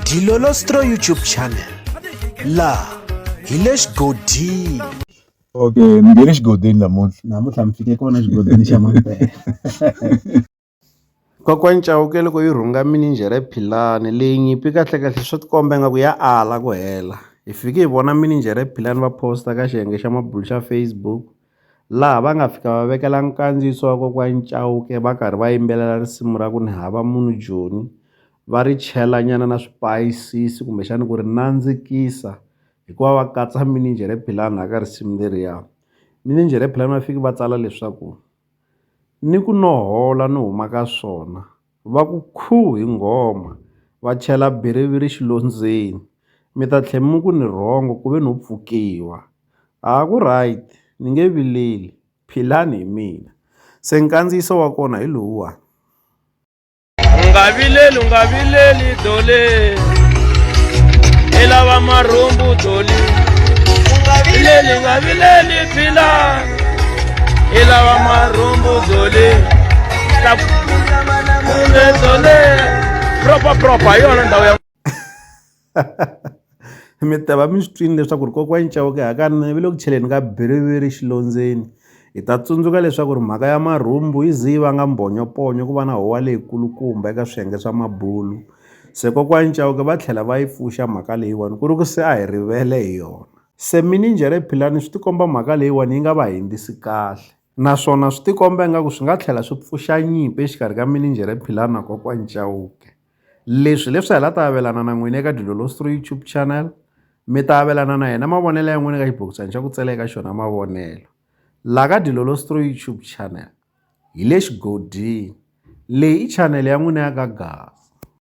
Dilolostro YouTube channel la hi le xigodini okay mi nge le xigodini namuntlha namuntlha mi fike kona xigodini xa mampela kokwani cawuke loko yi rhunga mininjhere philani leyi nyimpi kahlekahle swi tikomba ingaku ya ala ku hela hi fike hi vona mininjhere philani va posta ka xiyenge xa mabulu xa facebook laha va nga fika va vekela nkandziyiso wa kokwani Chauke va karhi va yimbelela risimu ra ku ni hava munhu Joni va ri chela nyana na swipayisisi kumbexani ku ri nandzikisa hikuva va katsa mininjhere philani la ka risimu leriya mininjhere philani va fiki va tsala leswaku ni ku no hola ni huma ka swona. Va ku khuu hi nghoma, va chela biriviri xilondzweni. Mi ta tlhe mi ku ni rhongo ku ve no pfukiwa. A ku right, ni nge vileli. Philani hi mina. Se nkandziyiso wa kona hi lowuwani. U nga vileli, u nga vileli Dole. I lava marhumbu Dole. U nga vileli, u nga vileli Philani. ilawa marhumbu zole kumbe zole proper proper hi yona ndhawu ya mi ta va mi swi twini leswaku ri kokwani cawuke hakanene vi le ku cheleni ka biriviri xilondzeni hi ta tsundzuka leswaku ri mhaka ya marhumbu yi ze yi vanga mbhonyoponyo ku va na howa leyikulukumba eka swiyenge swa mabulu se kokwani cawuke va tlhela va yi pfuxa mhaka leyiwani ku ri ku se a hi rivele hi yona Se mininjhere Philani swi tikomba mhaka leyiwani yi nga va hembisi kahle, naswona swi tikomba ingaku swi nga tlhela swi pfuxa nyimpi exikarhi ka mininjhere Philani na Kokwani Chauke. Leswi hi leswi a hi la ta avelana na n'wina eka Dilolosto YouTube channel, mi ta avelana na hina mavonelo ya n'wina eka xibokisana xa ku tsala eka xona mavonelo la ka Dilolosto YouTube channel. Hi le xigodini, leyi i channel ya n'wina ya ka Gaza.